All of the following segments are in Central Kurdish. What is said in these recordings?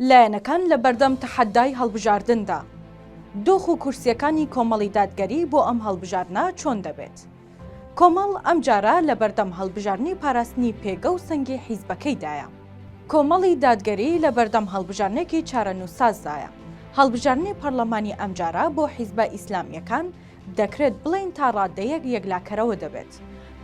لایەنەکان لە بەردەم تەحەدای هەڵبژاردندا، دۆخ و کورسییەکانی کۆمەڵی دادگەری بۆ ئەم هەڵبژاردنە چۆن دەبێت؟ کۆمەڵ ئەم جارە لە بەردەم هەڵبژاردنی پاراستنی پێگە و سەنگی حیزبەکەیدایە. کۆمەڵی دادگەری لە بەردەم هەڵبژاردنێکی چارەنووسسازدایە. هەڵبژاردنی پەڕڵەمانی ئەمجارە بۆ حیزبە ئیسلامییەکان، دەکرێت بڵێین تا ڕاددەیەک یەکلاکەرەوە دەبێت.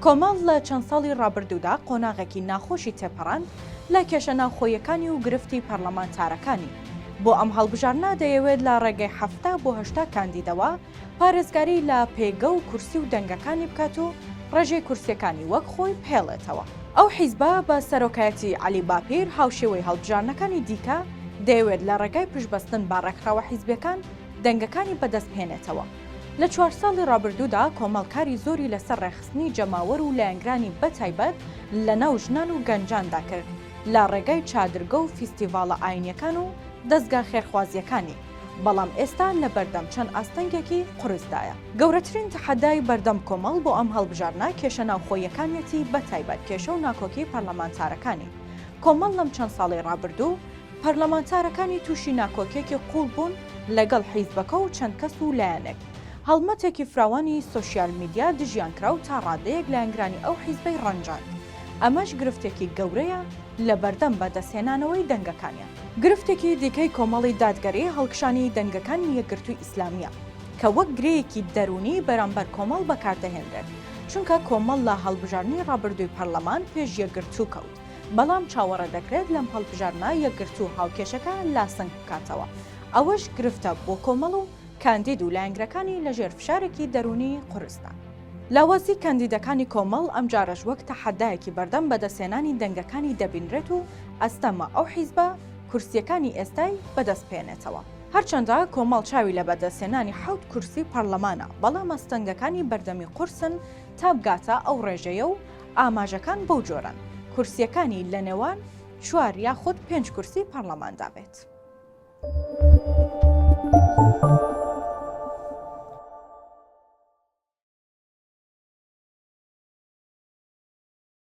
کۆمەڵ لە چەند ساڵی ڕابردوودا قۆناغێکی ناخۆشی تێپەڕاند لە کێشە ناوخۆییەکانی و گرفتی پەرلەمانتارەکانی. بۆ ئەم هەڵبژاردنە دەیەوێت لە ڕێگەی حەفتا بۆ هەشتا کاندیدەوە پارێزگاری لە پێگە و کورسی و دەنگەکانی بکات و ڕێژەی کورسییەکانی وەک خۆی بهێڵێتەوە. ئەو حیزبە بە سەرۆکایەتی عەلی باپیر، هاوشێوەی هەڵبژاردنەکانی دیکە، دەیەوێت لە ڕێگای پشتبەستن بە ڕێکخراوە حیزبییەکان، دەنگەکانی بەدەست بهێنێتەوە. لە چوار ساڵی ڕابردوودا کۆمەڵ کاری زۆری لەسەر ڕێکخستنی جەماوەر و لایەنگرانی بە تایبەت لە ناو ژنان و گەنجاندا کرد لە ڕێگای چادرگە و فیستیڤاڵە ئاینیەکان و دەزگا خێرخوازیەکانی بەڵام ئێستا لە بەردەم چەند ئاستەنگێکی قورسدایە. گەورەترین تەحەدای بەردەم کۆمەڵ بۆ ئەم هەڵبژاردنە کێشە ناوخۆییەکانیەتی بە تایبەت کێشە و ناکۆکی پەرلەمانتارەکانی کۆمەڵ لەم چەند ساڵەی ڕابردوو، پەرلەمانتارەکانی تووشی ناکۆکیەکی قووڵ بوون لەگەڵ حیزبەکە و چەند کەس و لایەنێک. هەڵمەتێکی فراوانی سۆشیال میدیا دژیان کرا و تا ڕادەیەک لایەنگرانی ئەو حیزبەی ڕەنجاند. ئەمەش گرفتێکی گەورەیە لەبەردەم بەدەستهێنانەوەی دەنگەکانیان. گرفتێکی دیکەی کۆمەڵی دادگەری هەڵکشانی دەنگەکانی یەکگرتووی ئیسلامییە کە وەک گرێیەکی دەروونی بەرامبەر کۆمەڵ بەکاردەهێنرێت، چونکە کۆمەڵ لە هەڵبژاردنی ڕابردووی پەرلەمان پێش یەکگرتوو کەوت. بەڵام چاوەڕێ دەکرێت لەم هەڵبژاردنە یەکگرتوو هاوکێشەکە لاسەنگ بکاتەوە، ئەوەش گرفتە بۆ کۆمەڵ و کاندید و لایەنگرەکانی لە ژێر فشارێکی دەروونی قورسدا. لاوازی کاندیدەکانی کۆمەڵ ئەمجارەش وەک تەحەدایەکی بەردەم بەدەستهێنانی دەنگەکانی دەبینرێت و ئەستەمە ئەو حیزبە کورسییەکانی ئێستای بەدەست بهێنێتەوە. هەرچەندە کۆمەڵ چاوی لە بەدەستهێنانی حەوت کورسی پەڕلەمانە، بەڵام ئەستەنگەکانی بەردەمی قورسن تا بگاتە ئەو ڕێژەیە و ئاماژەکان بەو جۆرەن کورسییەکانی لە نێوان چوار یاخود پێنج کورسی پەڕڵەماندا بێت.